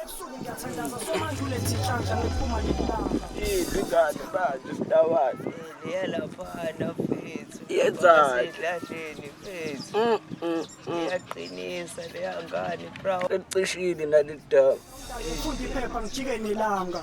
Ebusuku ngiyathandaza somanje ulethe inhlanhla ngiphuma nilanga. Idli ingane manje sidawazi. Yela phana mfethu. Yenzani? Sidlasheni mfethu. Mm, mm, mm. Iyaqinisa leya ngane bro. Licishile nalidaba. Ngifunda iphepha ngijike nilanga.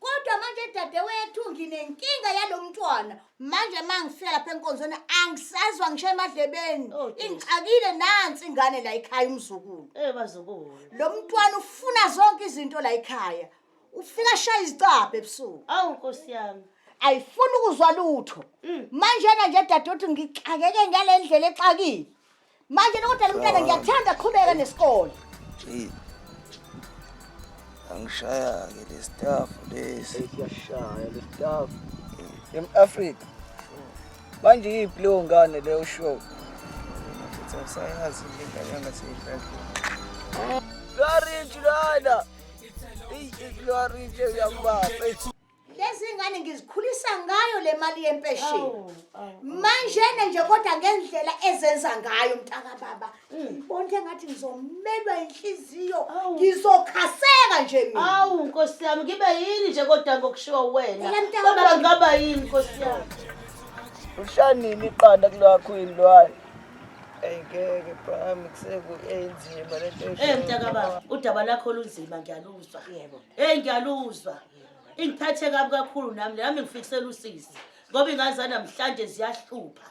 Kodwa manje dadewethu nginenkinga yalomntwana. Manje mangifika lapha enkonzweni angisazwa ngisho emadlebeni. Oh, dear. Ingixakile nansi ingane la ekhaya umzukulu. Eh bazukulu. Lo mntwana ufuna zonke izinto la ekhaya. Ufika shaya izicabha ebusuku. Awu Nkosi yami. Ayifuni ukuzwa lutho. Mm. Manjena nje dadewethu ngixakeke ngalendlela exakile. Manje kodwa lo mntana ngiyakuthanda qhubeka nesikole. Hey. Angishaya ke le staff lesi. Siyashaya le staff. Em Africa. Manje yiphi leyo ngane le usho? Mfethu usayazi le ngane yangaseyidlali. Lwarinji lana. Ey, lwarinji uyambamba. lezi ngane ngizikhulisa ngayo le mali yempesheni manjena nje kodwa ngendlela ezenza ngayo mntaka baba mm. ngibona into engathi ngizomelwa inhliziyo ngizokhaseka nje mina awu nkosi yami ngibe yini nje kodwa ngokushiwa wena kodwa ngaba yini nkosi yami ushanini iqanda kulwakho yini lwayo ayingeke bami kusekuenzima lento eh mntaka baba udaba lakho lunzima ngiyaluzwa yebo hey ngiyaluzwa ingiphathe kabi kakhulu nami nami ngifikisela usisi ngoba ingane zanamhlanje ziyahlupha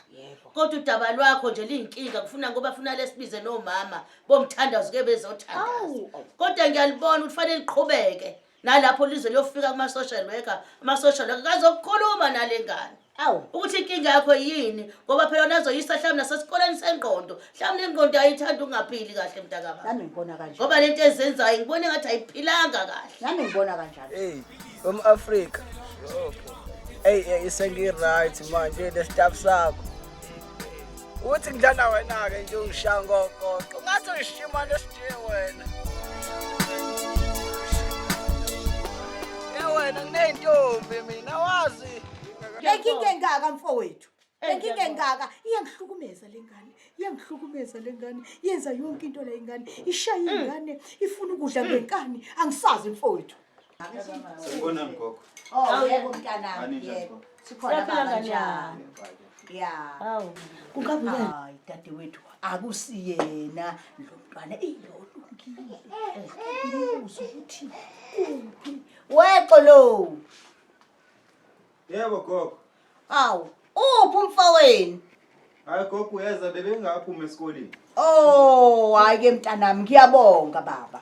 kodwa udaba lwakho nje liyinkinga kufuna ngoba funa lesibize nomama bomthandazo ke bezothandaza kodwa ngiyalibona ukuthi fanele liqhubeke nalapho lize liyofika kuma-social worker ama-social worker kazokukhuluma nale ngane awu ukuthi inkinga yakho yini ngoba phela wona azoyisa mhlawumbe nasesikoleni sengqondo mhlawumbe ingqondo ayithanda ukungaphili kahle mntakaba nami ngibona kanje ngoba le nto ezenzayo ngibona engathi ayiphilanga kahle nami ngibona kanjalo hey um-afrika eyi hey, isengi-right manje nesitaff sakho uthi ngidlala wena-ke nje ungishaya ngokoqo ngathi uyishima nesidiye wena e wena nginey'ntombi mina wazi Lenkinga engaka mfowethu. Lenkinga engaka iyangihlukumeza lengane. Iyangihlukumeza lengane. Yenza yonke into le ingane. Ishaya mm. ingane, ifuna ukudla mm. ngenkani. Angisazi mfowethu. Sibona mgogo. Oh, yebo mntanami, yebo. Sikhona kanjani? Yeah. Awu. Kungabuyena. Hayi dadewethu, akusiyena lo mntwana iyolungile. Ubuza ukuthi kuphi? Wexolo. Yebo gogo. Awu, uphi umfowenu? Hayi gogo uyeza bebengaphuma esikoleni. Oh, hayi ke mntanami ngiyabonga baba.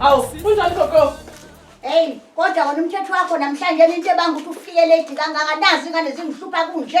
Awu, kunjani gogo? Hey, kodwa wona umthetho wakho namhlanje into ebanga ukuthi ufike late kangaka nazi ingane zingihlupha kunje.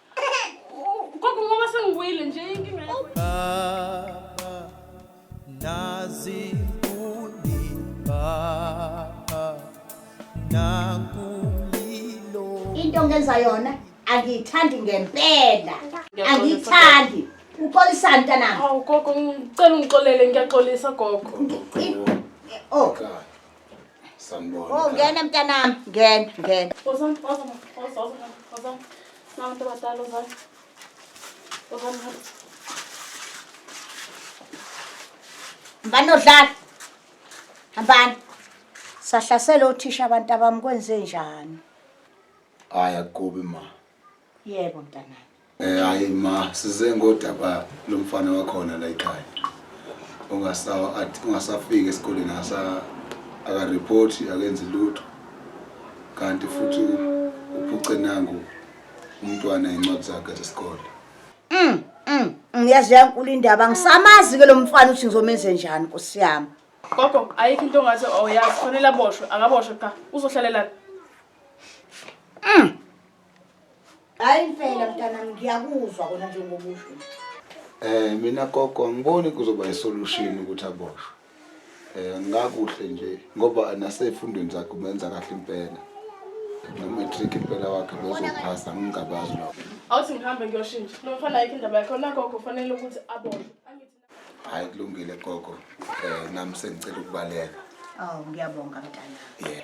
Gogo ngoba sengibuyile nje inkinga yakho. Baba nazikuni baba nakulilo Into ongenza yona angiyithandi ngempela. Angiyithandi. Uxolisani mntanami? Awu gogo ngicela ungixolele ngiyaxolisa gogo. Oh, Sanibona. Oh ngena mntanami, ngena, ngena. Ozan, ozan, ozan, ozan. Nabantu abadala ozan. Ozan. Mbani odlala? Hambani. Sahlasela othisha abantu abami kwenze njani? Hayi akubi ma. Yebo mntanami. Eh hayi ma size ngodaba lomfana wakhona la ekhaya. Ungasawa athi ungasafika esikoleni asa aka report akenzi lutho. Kanti futhi uphuce nangu umntwana incwadi zakhe zesikole. Mm. Mm. Ngiyazi yankulu indaba ngisamazi ke lo mfana uthi ngizomenze njani Nkosi yami. Gogo ayikho into ongathi oyazi oh, fanele aboshwe akaboshwe cha uzohlalela. Mm. Hayi impela mntanami ngiyakuzwa kona njengoba usho. Eh mina gogo angiboni kuzoba isolution ukuthi aboshwe. Eh ngakuhle nje ngoba nasefundweni zakhe umenza kahle impela. No-matric impela wakhe bezophasa ngingabazi lokho. Awuthi ngihambe ngiyoshintsha. Nomfana ayikho indaba yakhe. Nagogo kufanele ukuthi aboshwe. Hayi kulungile gogo. Eh nami sengicela ukubaleka. Oh ngiyabonga mntana. Yeah.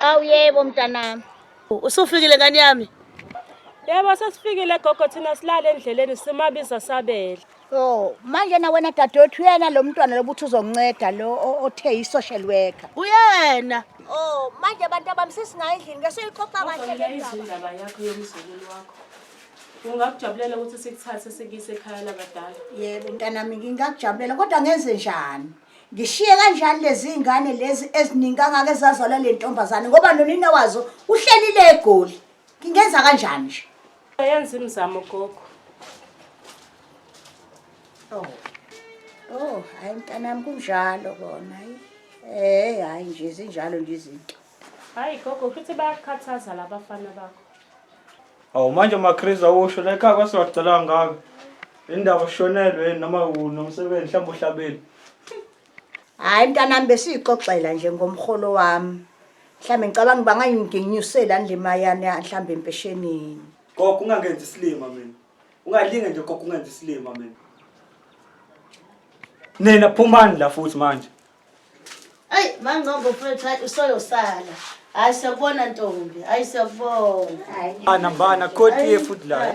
Awu yebo mntanami. Usufikile ngane yami? Yebo sesifikile gogo thina silale endleleni simabiza sabele. Oh, manje na wena dadewethu uyena lo mntwana lobuthi uzonceda lo o- othe yi-social worker. Uyena. Oh, manje abantu abami sesinayo endlini ke soyiqoqa kahle le ndaba. izindaba yakho yomzukulu wakho ungakujabulela ukuthi sikuthathe sikuyise ekhaya labadala Yebo mntanami ngingakujabulela kodwa ngenze njani? Ngishiye kanjani lezi ngane lezi eziningi kangaka ezazalwa le ntombazane ngoba nonina wazo uhlelile egoli. Ngingenza kanjani nje? Yenza imizamo gogo. Oh. Oh, hayi mntanami kunjalo kona. Eh, hayi nje zinjalo nje izinto. Hayi gogo futhi bayakhathaza labafana bakho. Awu manje maChris awusho la ekhaya kwasiwacela ngaka. Indaba ushonelwe noma unomsebenzi mhlawumbe uhlabile. Hayi mntanami besiyixoxela nje ngomholo wami. Mhlambe ngicabanga uba ngayingenyusela nje mayani mhlambe empeshenini. Gogo ungangenzi isilima mina. Ungalinge nje gogo ungenzi isilima mina. Nina phumani la futhi manje. Ay mangqongo mfethu hayi usoyosala. Hayi siyakubona ntombi. Hayi siyakubona. Hayi. Ana mbana kodwa iye futhi la.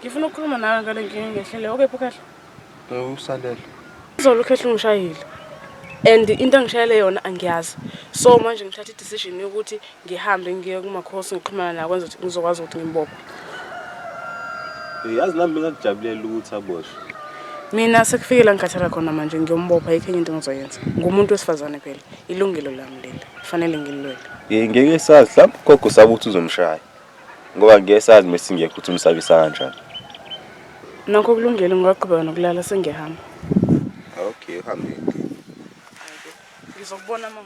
Ngifuna ukukhuluma nawe ngale nkinga engehlele. Okay, Phukhehla. Eh, usalele. Izolo ukhehla ungishayile. And into angishayele yona angiyazi. So manje ngithatha i-decision yokuthi ngihambe ngiye kumakhosi ngixhumana nawo kwenza ukuthi ngizokwazi ukuthi ngimbophe. Eh, yazi nami bengakujabulela ukuthi aboshwe. Mina sekufikela ngikhathala khona manje ngiyombopha ayikho enye into engizoyenza. Ngumuntu wesifazane phela. Ilungelo lami leli. Kufanele ngililwele. Eh, ngeke sazi. Mhlawumbe ugogo usaba ukuthi uzomshaya. Ngoba ngeke sazi uma singekho ukuthi umsabisa kanjani. Nokho kulungile ngingaqhubeka nokulala sengiyahamba. Okay, uhambe. Ngizokubona uma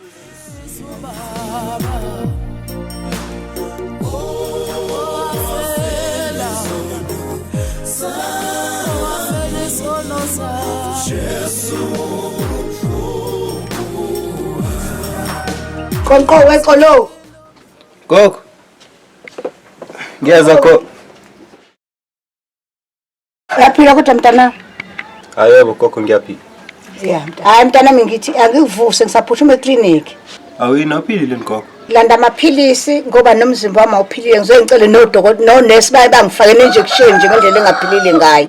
Qonqo weqolo. Gogo. Ngiyeza kho. Uyaphila kodwa mntana? Ayebo gogo ngiyaphila. Yeah. Hayi mntana mina ngithi angikuvuse ngisaphuthuma eclinic. Awuyinophilile ngigogo. Landa amaphilisi ngoba nomzimba wami awuphilile ngizoyicela nodokotela no nurse baye bangifake injection nje ngendlela engaphilile ngayo.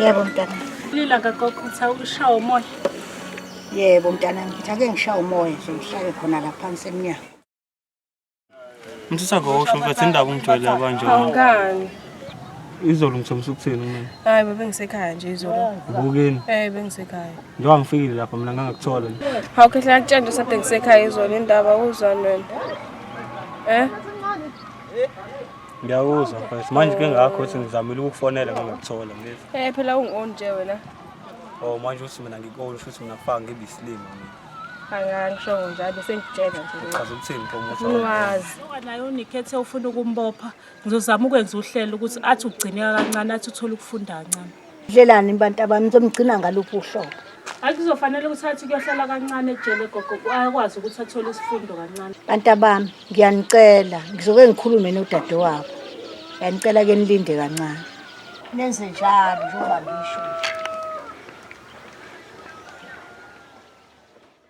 Yebo mntana. Lila kagogo utha ukushawa umoya. Yebo mntana ngithi ake ngishawa umoya sokuhlale khona la phansi emnyango. Msisa ngosho mfethu indaba ungijwayele abanje. Awungani. Izolo ngithomisa ukuthini mina? Hayi bebe ngisekhaya nje izolo. Ubukeni? Eh bengisekhaya. Njengoba ngifikile lapha mina ngangakuthola. Hawu khehla ngakutshela nje sade ngisekhaya izolo indaba uzwa wena. Eh? Ngiyakuzwa mfethu. Manje ke ngakho ukuthi ngizamile ukukufonela ngingakuthola mfethu. Eh phela ungi-on nje wena. Oh manje uthi mina ngikoni futhi mina faka ngibe isilima mina. Angangisho njalo sengitshela nje. Uchaza ukuthini promoter? Unwazi. Nayo unikhethe ufuna ukumbopha. Ngizozama ukwenza uhlelo ukuthi athi ugcineka kancane athi uthole ukufunda kancane. Dlelani bantabami nizomgcina ngaluphi uhlobo? Hayi kuzofanele ukuthi athi kuyohlala kancane ejele gogo akwazi ukuthi athole isifundo kancane. Bantabami ngiyanicela ngizoke ngikhulume nodadewabo. Ngiyanicela ke nilinde kancane. Nenze njalo njengoba ngisho.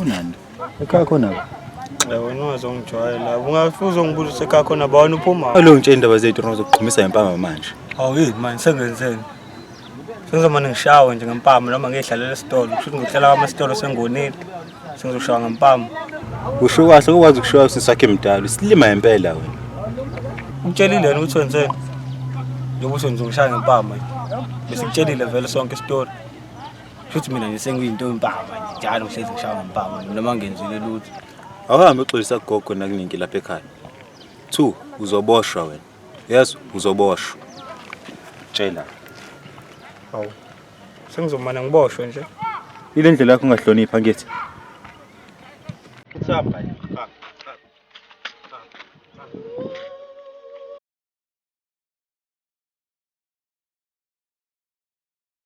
Unani? Ekhaya khona ba? Eh wena wazongijwayela. Ungafuza ungibuza usekhaya khona ba wena uphuma. Alo ngitshe indaba zethu ngizokuqhumisa ngempama manje. Hawu yini manje sengenzeni? Sengizomane ngishawe nje ngempama noma ngiyidlalela esitolo. Kusho ukuthi ngihlela kwama esitolo sengonile. Sengizoshawa ngempama. Usho kahle ukwazi ukushiwa usisi wakhe mdala. Usilima impela wena. Ngitshelile yena ukuthi wenzeni. Njengoba usho nje ngishaya ngempama. Bese ngitshelile vele sonke isitori. Futhi mina nje sengiyinto yempama nje njalo ngihlezi ngishaya ngempama noma ngenzile lutho. Awuhambe uxolisa kugogo nakuningi lapha ekhaya. Two, uzoboshwa wena. Yes, uzoboshwa. Tshela. Hawu. Sengizomana ngiboshwe nje. Ile ndlela yakho ungahlonipha ngithi. What's up, guys?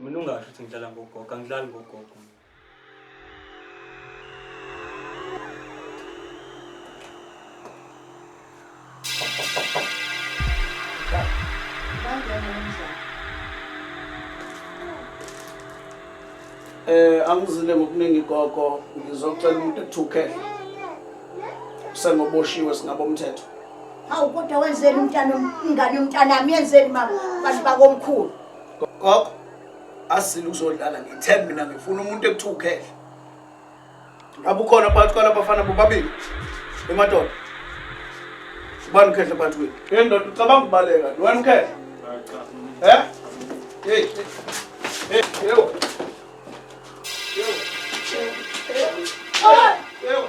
Mina ungasho ukuthi ngidlala ngogogo, angidlali ngogogo. Eh angizile ngokuningi gogo ngizocela umuntu ethukele sengoboshiwe singabomthetho Hawu kodwa wenzeni umntana umngane umntana ami yenzeni ma bantu bakomkhulu. Gogo asizile ukuzodlala ngithembe mina ngifuna umuntu ekuthiwa ukhehla. Ngabe ukhona phakathi kwalaba bafana bobabili emadoda. Ubani ukhehla phakathi kwenu? Hey ndoda ucabanga ubaleka, wena ukhehla. He? Hey. Hey, yebo. Yebo. Yebo. Yebo.